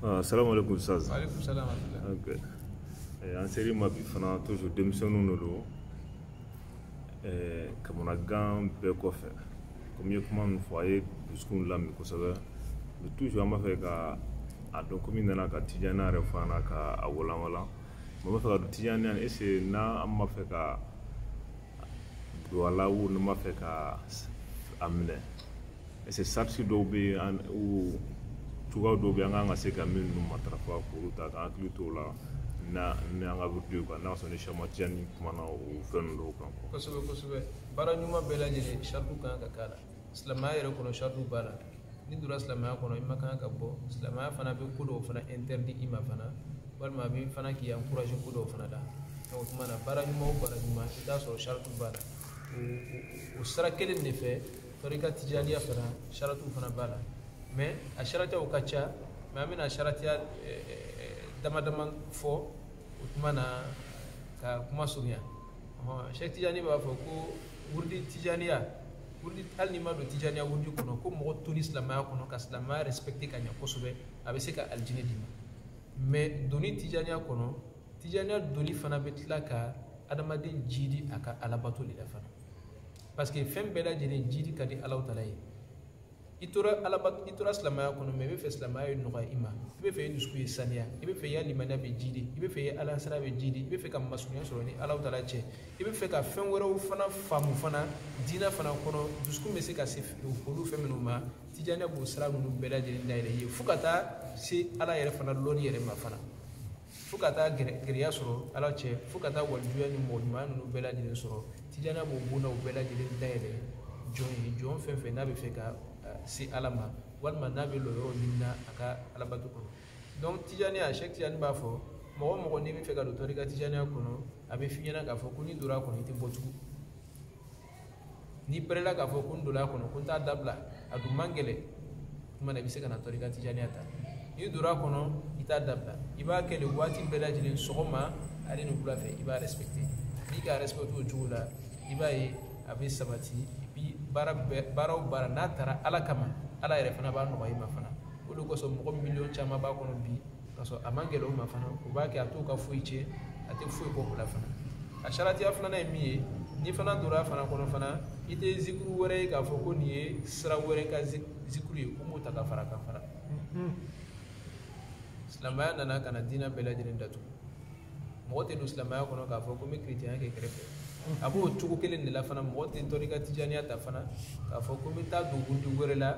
Ah, salamu alaikum ustaz alaikum salam okay. eh, an ser'i ma bi fana toujours denmisɛnninw de don eh, kamanagan bɛɛ kɔfɛ komi i ye kuma min fɔ a ye dusukunw lamin kosɛbɛ mais toujours an b'a fɛ ka a dɔn komi i nana ka tijaniya yɛrɛ fɔ an na ka a walanwalan mais an b'a fɛ ka dɔn tijaniya est ce que n'an b'a fɛ ka don a la ou n'an b'a fɛ ka a minɛ est ce que sarati dɔw bɛ yen ou cogoya dɔw bɛ yen an kan ka se ka minnu matarafa k'olu ta k'an hakili t'o la ni an ka wurudi kan n'a sɔrɔ ni sɛk ahmad tijani kumana o fɛn ninnu dɔw kan kosɛbɛ kosɛbɛ baara ɲuman bɛɛ lajɛlen sarati kan ka k'a la silamɛya yɛrɛ kɔnɔ sarati b'a la n'i donna silamɛya kɔnɔ i ma kan ka bɔ silamɛya fana bɛ ko dɔw fana interdit i ma fana walima a bɛ fana k'i encourager ko dɔw fana la o tuma na baara ɲuman o baara ɲuman i b'a sɔrɔ sarati b'a la o sira kelen de fɛ tɔrika tijaniya fana sarati fana b'a la mais a saratiyaw ka ca mais an bɛna saratiya dama dama fɔ o tuma na ka kuma surunya sɛk tijani b'a fɔ ko wurudi tijaniya hali n'i ma don tijaniya wurudi kɔnɔ ko mɔgɔ toli silamɛya kɔnɔ ka silamɛya respecter ka ɲɛ kosɛbɛ a bɛ se ka alijinɛ d'i ma mais doni tijaniya kɔnɔ tijaniya doni fana bɛ tila ka adamaden jidi a ka alabato de la fana parce que fɛn bɛɛ lajɛlen jidi ka di alahu taala ye i tora silamɛya kɔnɔ mais i bɛ fɛ silamɛya ye nɔgɔya i ma i bɛ fɛ i dusukun ye saniya i bɛ fɛ i ya limaniya bɛ jidi i bɛ fɛ i alasiran bɛ jidi i bɛ fɛ ka masurunya sɔrɔ ni alahu taala cɛ i bɛ fɛ ka fɛn wɛrɛw fana faamu fana diinɛ fana kɔnɔ dusukun bɛ se ka se olu fɛn minnu ma tijaniya b'o sira ninnu bɛɛ lajɛlen dayɛlɛ i ye fo ka taa se ala yɛrɛ fana lɔnni yɛrɛ ma fana fo ka taa gɛrɛya sɔrɔ ala cɛ fo ka taa walijuya ni mɔgɔ ɲuman ninnu bɛɛ lajɛlen sɔrɔ tijaniya b'o bondaw bɛɛ lajɛlen dayɛlɛ jɔn ye jɔn fɛn fɛn n'a bɛ fɛ ka se ala ma walima n'a bɛ lɔyɔrɔ ɲini na a ka alabato kɔnɔ donc tijaniya sɛk tijani b'a fɔ mɔgɔ o mɔgɔ n'i bɛ fɛ ka don tɔrika tijaniya kɔnɔ a bɛ f'i ɲɛna k'a fɔ ko n'i donna a kɔnɔ i tɛ bɔ tugun n'i pɛrɛla k'a fɔ ko n donna a kɔnɔ ko n t'a dabila a dun man gɛlɛn o tuma na i bɛ se ka na tɔrika tijaniya ta n'i donna a kɔnɔ i t'a dabila i b'a kɛ de waati bɛɛ lajɛlen sɔgɔma ale ni wula fɛ i b'a respecter n'i k'a respecter o cogo la i b'a ye a bɛ sabati bi baara o baara n'a tara ala kama ala yɛrɛ fana b'a nɔgɔya i ma fana o de kosɔn mɔgɔ miliyɔn caman b'a kɔnɔ bi k'a sɔrɔ a man gɛlɛn o ma fana o b'a kɛ a t'o ka foyi tiɲɛ a tɛ foyi bɔ o la fana a saratiya filanan ye min ye n'i fana donna a fana kɔnɔ fana i tɛ zikuru wɛrɛ ye k'a fɔ ko nin ye sira wɛrɛ ka zikuru ye ko n b'o ta ka fara a kan fana silamɛya nana ka na diinɛ bɛɛ lajɛlen datugu mɔgɔ tɛ don silamɛya kɔnɔ k'a fɔ ko n bɛ kiritiyanya kɛ kɛrɛfɛ a b'o cogo kelen de la fana mɔgɔ tɛ tɔrika tijaniya ta fana k'a fɔ ko n bɛ taa dɔ wɛrɛ la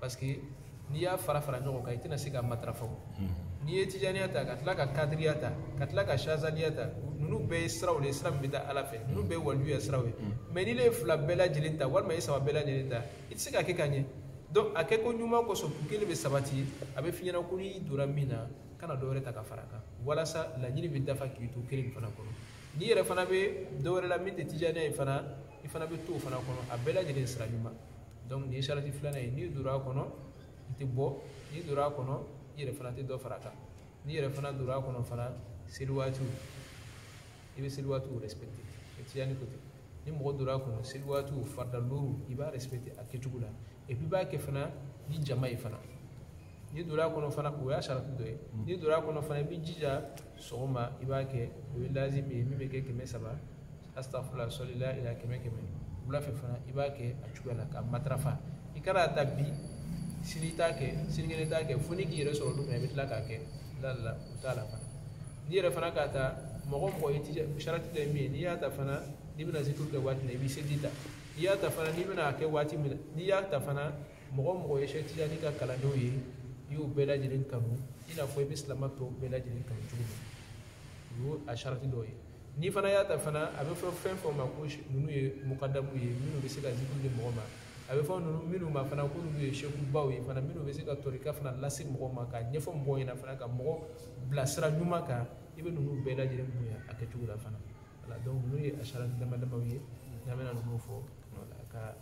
parce que n'i y'a fara fara ɲɔgɔn kan i tɛna se ka matarafa n'i ye tijaniya ta ka tila ka kadiriya ta ka tila ka shazaliya ta ninnu bɛɛ ye siraw de ye sira min bɛ taa ala fɛ ninnu bɛɛ ye walijuya siraw ye mais n'i ye fila bɛɛ lajɛlen ta walima i saba bɛɛ lajɛlen ta i tɛ se ka kɛ ka ɲɛ donc a kɛko ɲuman kosɔn kun kelen bɛ sabati a bɛ f'i ɲɛna ko n'i donna min na kana dɔwɛrɛ ta ka fara kan walasa laɲini bɛ dafa k'i to kelen fana kɔnɔ n'i yɛrɛ fana bɛ dɔwɛrɛ la min tɛ tijaniya ye fana i fana bɛ to o fana kɔnɔ a bɛɛ lajɛlen sira ɲuman donc nin sarati filanan ye n'i donna a kɔnɔ i tɛ bɔ n'i donna a kɔnɔ i yɛrɛ fana tɛ dɔ fara a kan n'i yɛrɛ fana donna a kɔnɔ fana seli waatiw i bɛ seli waatiw respecter tijani ko ten ni mɔgɔ donna a kɔnɔ seli waatiw farida luuru i b'a respecter a kɛcogo la et puis i b'a kɛ fana ni jama ye fana n'i donna a kɔnɔ fana o y'a sarati dɔ ye n'i donna a kɔnɔ fana i b'i jija sɔgɔma i b'a kɛ o ye lazimi ye min bɛ kɛ kɛmɛ saba asitafurula sɔlila ila kɛmɛ kɛmɛ wula fɛ fana i b'a kɛ a cogoya la k'a matarafa i kana a ta bi sini t'a kɛ sinikɛnɛ t'a kɛ fo n'i k'i yɛrɛ sɔrɔ don min na i bɛ tila k'a kɛ la la la o t'a la fana n'i yɛrɛ fana k'a ta mɔgɔ mɔgɔ ye tija sarati dɔ ye min ye n'i y'a ta fana n'i bɛna zikiri kɛ waati min na i b'i seli ta n'i y'a ta fana n'i bɛna a kɛ waati min na n'i y'a ta fana mɔgɔ mɔgɔ ye Cheikh Tijani ka kalandenw ye i y'u bɛɛ lajɛlen kanu i n'a fɔ i bɛ silamɛ tɔw bɛɛ lajɛlen kanu cogo min o y'o a sarati dɔ ye n'i fana y'a ta fana a bɛ fɔ fɛn fɛn ma ko ninnu ye mukadamuw ye minnu bɛ se ka zikiri di mɔgɔ ma a bɛ fɔ ninnu minnu ma fana ko ninnu ye sekubaw ye fana minnu bɛ se ka tɔrika fana lase mɔgɔ ma ka ɲɛfɔ mɔgɔw ɲɛna fana ka mɔgɔ bila sira ɲuman kan i bɛ ninnu bɛɛ lajɛlen bonya a kɛcogo la fana voilà donc ninnu ye a sarati dama damaw ye n'an bɛna ninnu fɔ wala ka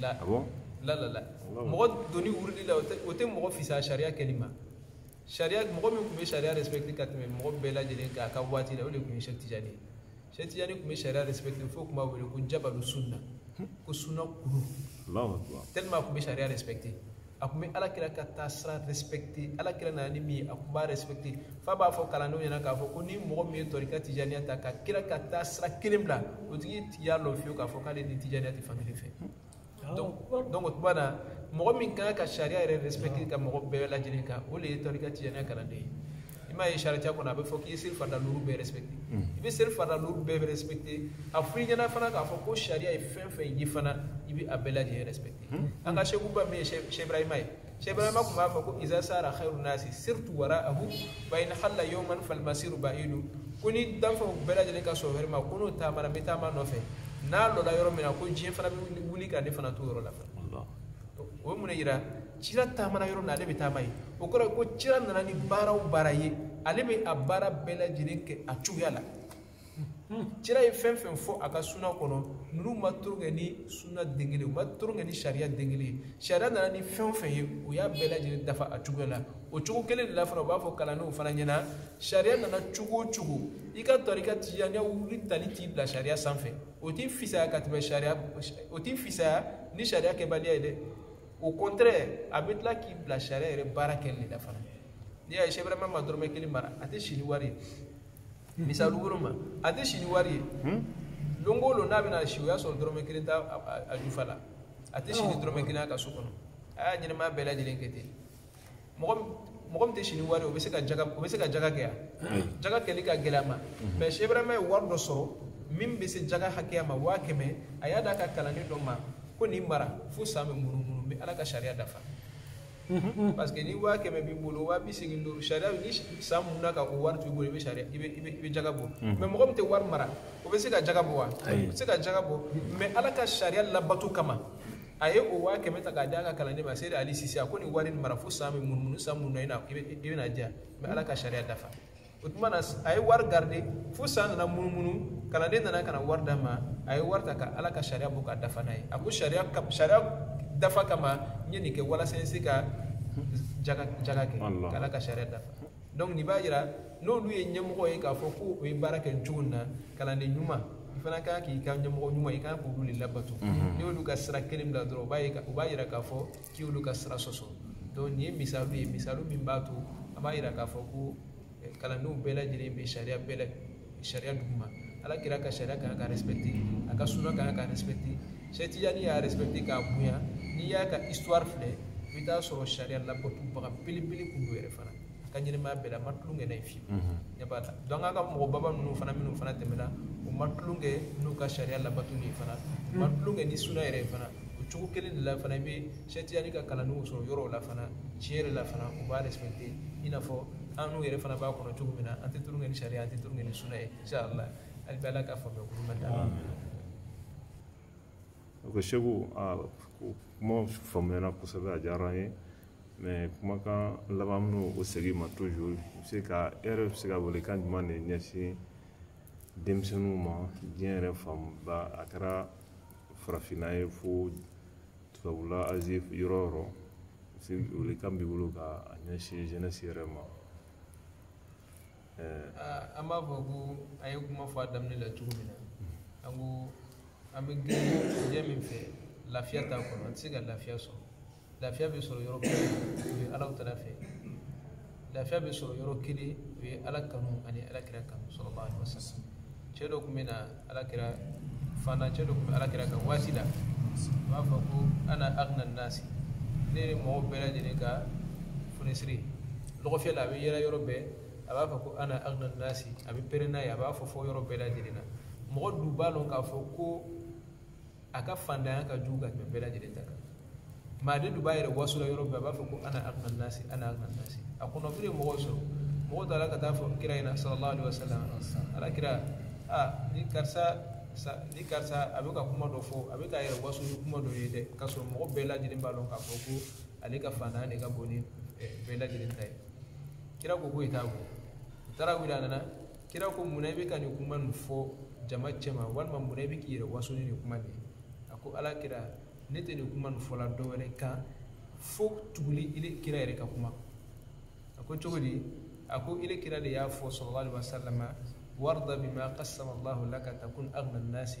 la la la la mɔgɔ donni wurudi la o tɛ mɔgɔ fisa sariya kɛli ma sariya mɔgɔ min tun bɛ sariya respecter ka tɛmɛ mɔgɔ bɛɛ lajɛlen kan a ka waati la o de tun ye Cheikh Tijani ye Cheikh Tijani tun bɛ sariya respecter fo tun b'a wele ko jabalu sunna ko sunna kulu tellement a tun bɛ sariya respecter a tun bɛ ala kira ka taasira respecter ala kira nana ni min ye a tun b'a respecter f'a b'a fɔ kalandenw ɲɛna k'a fɔ ko ni mɔgɔ min ye tɔrika tijaniya ta ka kira ka taasira kelen bila o tigi y'a lɔn fiyewu k'a fɔ k'ale ni tijaniya tɛ fan kelen fɛ donc o tuma na mɔgɔ min kan ka sariya yɛrɛ respecter ka mɔgɔ bɛɛ lajɛlen kan o de ye tɔrika tijaniya kalanden ye i m'a ye sariya kɔnɔ a bɛ fɔ k'i ye seli farida luuru bɛɛ respecter i bɛ seli farida luuru bɛɛ bɛ respecter a f'i ɲɛna fana k'a fɔ ko sariya ye fɛn fɛn ye fana i bɛ a bɛɛ lajɛlen respecter an ka sekuba min ye Cheikh Ibrahima ye Cheikh Ibrahima tun b'a fɔ ko iza sara khairu nasi sirtu wara'ahu wa in halla yawman fal masiru ba'idu ko ni danfɛnw bɛɛ lajɛlen ka sɔrɔ wɛrɛ ma ko n'o taamana n bɛ taama nɔfɛ n'a lɔla yɔrɔ min na ko diɲɛ fana bɛ wuli ka ne fana to yɔrɔ la fana o ye mun de yira cira taamana yɔrɔ min na ale bɛ taama yen o kɔrɔ ye ko cira nana ni baara o baara ye ale bɛ a baara bɛɛ lajɛlen kɛ a cogoya la kira ye fɛn fɛn fɔ a ka suna kɔnɔ ninnu ma tulon kɛ ni suna den kelen u ma tulon kɛ ni sariya den kelen ye sariya nana ni fɛn o fɛn ye o y'a bɛɛ lajɛlen dafa a cogoya la o cogo kelen de la fana u b'a fɔ kalandenw fana ɲɛ na sariya nana cogo o cogo i ka tɔrika tijaniya wuli tali t'i bila sariya sanfɛ o t'i fisaya ka tɛmɛ sariya o t'i fisaya ni sariya kɛbaliya ye dɛ au contraire a bɛ tila k'i bila sariya yɛrɛ baara kɛli de la fana n'i y'a ye Cheikh Ibrahima ma dɔrɔmɛ kelen mara a tɛ si ni wari ye misali woro ma a tɛ si ni wari ye don o don n'a bɛna si o y'a sɔrɔ dɔrɔmɛ kelen t'a jufa la a tɛ si ni dɔrɔmɛ kelen a ka so kɔnɔ a y'a ɲɛnɛmaya bɛɛ lajɛlen kɛ ten mɔgɔ mɔgɔ min tɛ si ni wari o bɛ se ka jaga o bɛ se ka jaga kɛ yan jaga kɛli ka gɛlɛn a ma mais Cheikh Ibrahima ye wari dɔ sɔrɔ min bɛ se jaga hakɛya ma waa kɛmɛ a y'a d'a ka kalanden dɔ ma ko nin mara fo san bɛ munumunu n bɛ ala ka sariya dafa parce que ni waa kɛmɛ b'i bolo waa bi segin ni duuru sariya ni san munna ka o wari to i bolo i bɛ sariya i bɛ i bɛ jaga bɔ mais mɔgɔ min tɛ wari mara o bɛ se ka jaga bɔ wa o bɛ se ka jaga bɔ mais ala ka sariya labato kama a ye o waa kɛmɛ ta k'a d'a ka kalanden ma seyidi ali sise a ko nin wari nin mara fo san bɛ munumunu san munna i bɛn'a di yan n bɛ ala ka sariya dafa o tuma na a ye wari garder fo san nana munumunu kalanden nana ka na wari d'a ma a ye wari ta ka ala ka sariya bɔ ka dafa n'a ye a ko sariya sariya dafa kama n ye nin kɛ walasa n se ka jaga jaga kɛ ka ala ka sariya dafa donc nin b'a yira n'olu ye ɲɛmɔgɔ ye k'a fɔ ko o ye baara kɛ cogo min na kalanden ɲuman i fana kan k'i ka ɲɛmɔgɔ ɲuman i kan k'olu de labato n'i y'olu ka sira kelen bila dɔrɔn u b'a yira k'a fɔ k'i y'olu ka sira sɔsɔ donc nin ye misaliw ye misaliw min b'a to an b'a yira k'a fɔ ko eh, kalandenw bɛɛ lajɛlen bɛ sariya bɛɛ la sariya duguma ala kira ka sariya kan ka respecté a ka suna kan ka respecté Cheikh Tijani y'a respecté k'a bonya n'i y'a ka histoire filɛ i bɛ taa sɔrɔ sariya labatobaga belebele tun don yɛrɛ fana a ka ɲɛnɛmaya bɛɛ la a ma tulon kɛ n'a ye fiyewu ɲɛ b'a la donc an ka mɔgɔbaba ninnu fana minnu fana tɛmɛna u ma tulon kɛ n'u ka sariya labatoli ye fana u ma tulon kɛ ni suna yɛrɛ ye fana o cogo kelen de la fana i bɛ Cheikh Tijani ka kalandenw sɔrɔ yɔrɔw la fana tiɲɛ yɛrɛ la fana u b'a respecté i n'a fɔ annu yɛrɛ fana b'a kɔnɔ cogo min na an tɛ tulon kɛ ni sariya an tɛ tulon kɛ ni suna ye inshallah hali bi ala ka faamuya kuru ma d'a ko Seku kuma faamuyana kosɛbɛ a diyara an ye mais kumakan laban minnu o segin ma toujours i se ka e yɛrɛ bɛ se ka welekan jumɛn de ɲɛsin denmisɛnninw ma diɲɛ yɛrɛ fanba a kɛra farafinna ye fo tubabula Asie yɔrɔ o yɔrɔ se welekan b'i bolo k'a ɲɛsin jeunesse yɛrɛ ma an b'a fɔ ko an ye kuma fɔ a daminɛ la cogo min na an ko an bɛ girin diɲɛ min fɛ lafiya t'a kɔnɔ an tɛ se ka lafiya sɔrɔ lafiya bɛ sɔrɔ yɔrɔ kelen o ye allahu taala fɛ lafiya bɛ sɔrɔ yɔrɔ kelen o ye ala kanu ani ala kira kanu sallallahu alaihi wasallam cɛ dɔ tun bɛ na ala kira fana cɛ dɔ tun bɛ ala kira ka waati la u b'a fɔ ko ana agna nasi ne ye mɔgɔw bɛɛ lajɛlen ka funisiri lɔgɔfiyɛ la a bɛ yɛlɛ yɔrɔ bɛɛ a b'a fɔ ko ana agna nasi a bɛ pɛrɛn n'a ye a b'a fɔ fɔ yɔrɔ bɛɛ lajɛlen na mɔgɔ dun b'a dɔn k'a fɔ ko a ka fantanya ka jugu ka tɛmɛ bɛɛ lajɛlen ta kan maa de dun b'a yɛrɛ wasola yɔrɔ bɛɛ a b'a fɔ ko ana agna nasi ana agna nasi a kɔnɔfili ye mɔgɔw sɔrɔ mɔgɔw taara ka taa fɔ kira ɲɛna sallallahu alaihi wasallam ala kira a ni karisa sa- ni karisa a bɛ ka kuma dɔ fɔ a bɛ ka yɛrɛ waso ni kuma dɔ ye dɛ k'a sɔrɔ mɔgɔ bɛɛ lajɛlen b'a dɔn k'a fɔ ko ale ka fantanya de ka bon ni eh, bɛɛ lajɛlen ta ye kira ko ko i t'a bɔ u taara wele a nana kira ko mun na i bɛ ka nin kuma nin fɔ jama cɛma walima mun na i bɛ k'i yɛrɛ waso ni nin kuma nin ye a ko ala kira ne tɛ nin kuma nin fɔla dɔ wɛrɛ kan fo tuguli ile kira yɛrɛ ka kuma a ko cogo di a ko ile kira de y'a fɔ sallallahu alaihi wasallam warda bima qasama allahu laka takun agna nasi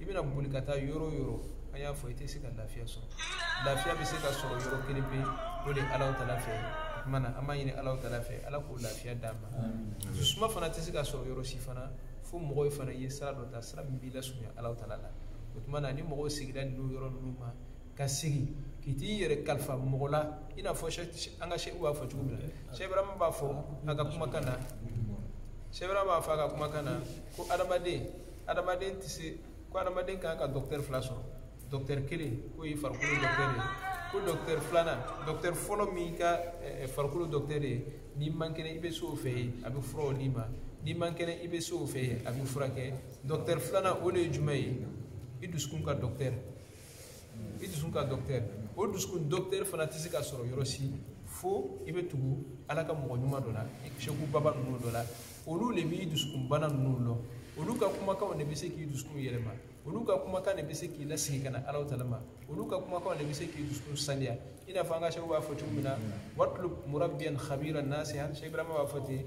i bɛna boli ka taa yɔrɔ yɔrɔ an y'a fɔ i tɛ se ka lafiya sɔrɔ lafiya bɛ se ka sɔrɔ yɔrɔ kelen pe o de ye allahu taala fɛ o tuma na an b'a ɲini allahu taala fɛ ala k'o lafiya d'an ma dusu suma fana tɛ se ka sɔrɔ yɔrɔ si fana fo mɔgɔw fana ye sira dɔ ta sira min b'i lasurunya allahu taala la o tuma na ni mɔgɔw sigira ninnu yɔrɔ ninnu ma ka segin k'i t'i yɛrɛ kalifa mɔgɔ la i n'a fɔ an ka seku b'a fɔ cogo min na seku ibrahima b'a fɔ a ka kumakan na seku ibrahima b'a fɔ a ka kumakan na ko adamaden adamaden tɛ se ko adamaden kan ka dɔkitɛri fila sɔrɔ dɔkitɛri kelen k'o ye farikolo dɔkitɛri ye ko dɔkitɛri filanan dɔkitɛri fɔlɔ min ka eh, eh, farikolo dɔkitɛri ye n'i man kɛnɛ i bɛ se o fɛ yen a bɛ furaw d'i ma n'i man kɛnɛ i bɛ se o fɛ yen a b'i furakɛ dɔkitɛri filanan o de ye jumɛn ye i dusukun ka dɔkitɛri i dusu ka dɔktɛri o dusukun dɔktɛri fana tɛ se ka sɔrɔ yɔrɔ si fo i bɛ tugu ala ka mɔgɔ ɲuman dɔ la seku baba ninnu dɔ la olu de b'i dusukun bana ninnu lɔn olu ka kumakanw de bɛ se k'i dusukun yɛlɛma olu ka kumakan de bɛ se k'i lasegin ka na allahu taala ma olu ka kumakanw de bɛ se k'i dusukun saniya i n'a fɔ an ka seku b'a fɔ cogo min na watlub murabbiyan khabiran nasihan seku ibrahima b'a fɔ ten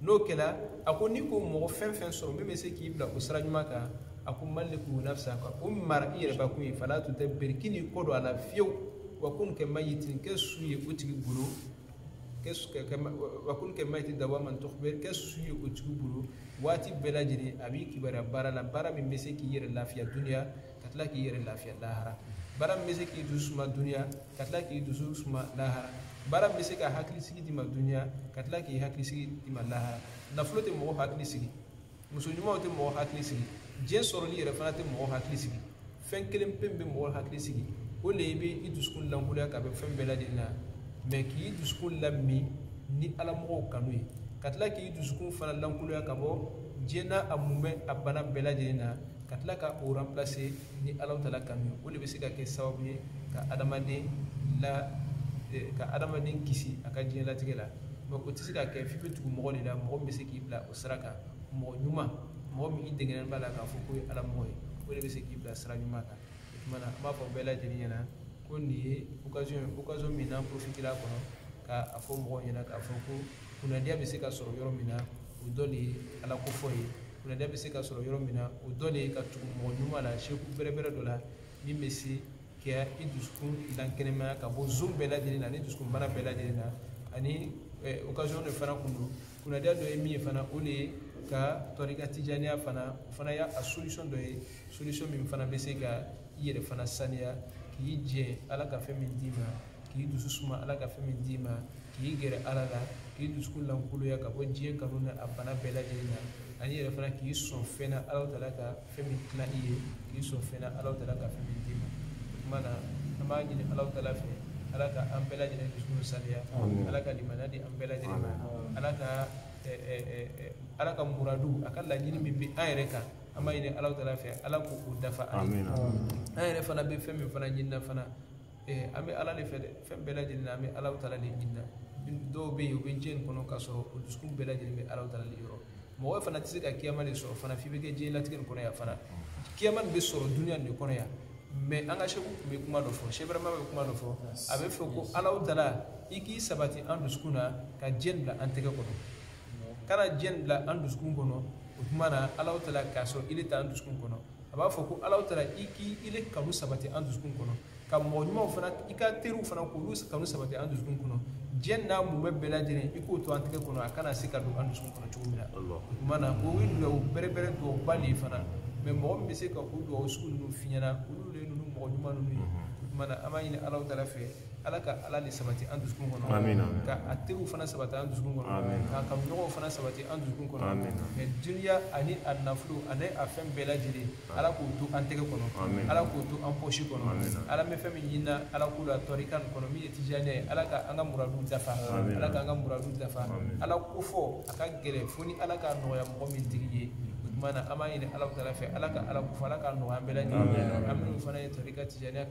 n'o kɛra a ko n'i k'o mɔgɔ fɛn fɛn sɔrɔ min bɛ se k'i bila o sira ɲuman kan a ko mallikhu nafsaka o mara i yɛrɛ bakun ye fala tudabbir kan'i kɔ don a la fiyewu wa kun kamayyitin kɛ su ye o tigi bolo wa kun kamayyitin dawaman tukhbar kɛ su ye o tigi bolo waati bɛɛ lajɛlen a b'i kibaruya baara la baara min bɛ se k'i yɛrɛ lafiya duniya ka tila k'i yɛrɛ lafiya lahara baara min bɛ se k'i dusu suma duniya ka tila k'i dusu suma lahara baara min bɛ se ka hakili sigi d'i ma duniya ka tila k'i hakili sigi d'i ma lahara nafolo tɛ mɔgɔ hakili sigi muso ɲumanw tɛ mɔgɔ hakili sigi diɲɛ sɔrɔli yɛrɛ fana tɛ mɔgɔ hakili sigi fɛn kelen pe bɛ mɔgɔ hakili sigi o de y'i bɛ i dusukun lankoloya ka bɔ fɛn bɛɛ lajɛlen na mɛ k'i dusukun lamin ni ala mɔgɔw kanu ye ka tila k'i dusukun fana lankoloya ka bɔ diɲɛ n'a mumɛ a bana bɛɛ lajɛlen na ka tila ka o ranpilase ni alahu taala kanu ye o de bɛ se ka kɛ sababu ye ka adamaden la eh, ka adamaden kisi a ka diɲɛlatigɛ la mɛ o tɛ se ka kɛ f'i bɛ tugu mɔgɔ de la mɔgɔ min bɛ se k'i bila o sira kan mɔgɔ ɲuman mɔgɔ min i degenen b'a la k'a fɔ k'o ye ala mɔgɔ ye o de bɛ se k'i bila sira ɲuman kan o tuma na an b'a fɔ bɛɛ lajɛlen ɲɛna ko nin ye occasion ye occasion min n'an profitera a kɔnɔ ka a fɔ mɔgɔw ɲɛna k'a fɔ ko kunnadiya bɛ se ka sɔrɔ yɔrɔ min na o dɔ de ye ala ko fɔ ye kunnadiya bɛ se ka sɔrɔ yɔrɔ min na o dɔ de ye ka tugu mɔgɔ ɲuman la seku bɛrɛbɛrɛ dɔ la min bɛ se ka i dusukun lakɛnɛmaya ka bɔ zɔn bɛɛ lajɛlen na ani dusukun bana bɛɛ lajɛlen na ani occasion de fana kun don kunnadiya dɔ ye min ye fana o de ye ka tɔrika tijaniya fana o fana y'a solution dɔ ye solution min fana bɛ se ka i yɛrɛ fana saniya k'i jɛ ala ka fɛn min d'i ma k'i dusu suma ala ka fɛn min d'i ma k'i gɛrɛ ala la k'i dusukun lankoloya ka bɔ diɲɛ kanu na a bana bɛɛ lajɛlen na ani yɛrɛ fana k'i sɔn fɛn na ala taala ka fɛn min tila i ye k'i sɔn fɛn na ala taala ka fɛn min d'i ma o tuma na an b'a ɲini ala taala fɛ ala ka an bɛɛ lajɛlen dusukun saniya ala ka limaniya di an bɛɛ lajɛlen ma ala ka ala ka muradu a ka laɲini min bɛ an yɛrɛ kan an b'a ɲini ala taala fɛ ala k'o dafa an ye an yɛrɛ fana bɛ fɛn min fana ɲinina fana ee an bɛ ala de fɛ dɛ fɛn bɛɛ lajɛlen na an bɛ alahu taala de ɲini na dɔw bɛ yen u bɛ diɲɛ in kɔnɔ k'a sɔrɔ u dusukun bɛɛ lajɛlen bɛ alahu taala de yɔrɔ mɔgɔ fana tɛ se ka kiyama de sɔrɔ fana f'i bɛ kɛ diɲɛlatigɛ nin kɔnɔ yan fana kiyama nin bɛ sɔrɔ duniya nin de kɔnɔ yan mɛ an ka seku tun bɛ kuma dɔ fɔ se barama bɛ kuma dɔ fɔ a b'a fɔ ko alahu taala i k'i sabati an dusukun na ka diɲɛ bila an tɛgɛ kɔnɔ kana diɲɛ bila an dusukun kɔnɔ o tuma na alahu taala k'a sɔrɔ i de t'an dusukun kɔnɔ a b'a fɔ ko ala taala i k'i i de kanu sabati an dusukun kɔnɔ ka mɔgɔ ɲumanw fana i ka teriw fana k'olu kanu sabati an dusukun kɔnɔ diɲɛ n'a mumɛ bɛɛ lajɛlen i k'o to an tɛgɛ kɔnɔ a kana se ka don an dusukun kɔnɔ cogo min na o tuma na o ye dugawu bɛrɛbɛrɛ dugawuba de ye fana mɛ mɔgɔ min bɛ se ka o dugawu sugu ninnu f'i ɲɛna olu de ye ninnu mɔgɔ ɲuman ninnu ye o tuma na an b'a ɲini ala taala fɛ ala ka ala de sabati an dusukun kɔnɔ ka a teriw fana sabati an dusukun kɔnɔ k'a kanuɲɔgɔnw fana sabati an dusukun kɔnɔ mɛ duniya ani a nafolo ani a fɛn bɛɛ lajɛlen ala k'o to an tɛgɛ kɔnɔ ala k'o to an pɔsi kɔnɔ ala an bɛ fɛn min ɲinina ala ko la tɔrika in kɔnɔ min ye tijaniya ye ala ka an ka muradu dafa ala k'an ka muradu dafa ala ko fɔ a ka gɛlɛn fo ni ala k'a nɔgɔya mɔgɔ min tigi ye o tuma na an b'a ɲini ala fɛ ala ka ala ko fɔ ala k'a nɔgɔya an bɛɛ lajɛlen an minnu fana ye tɔrika tijaniya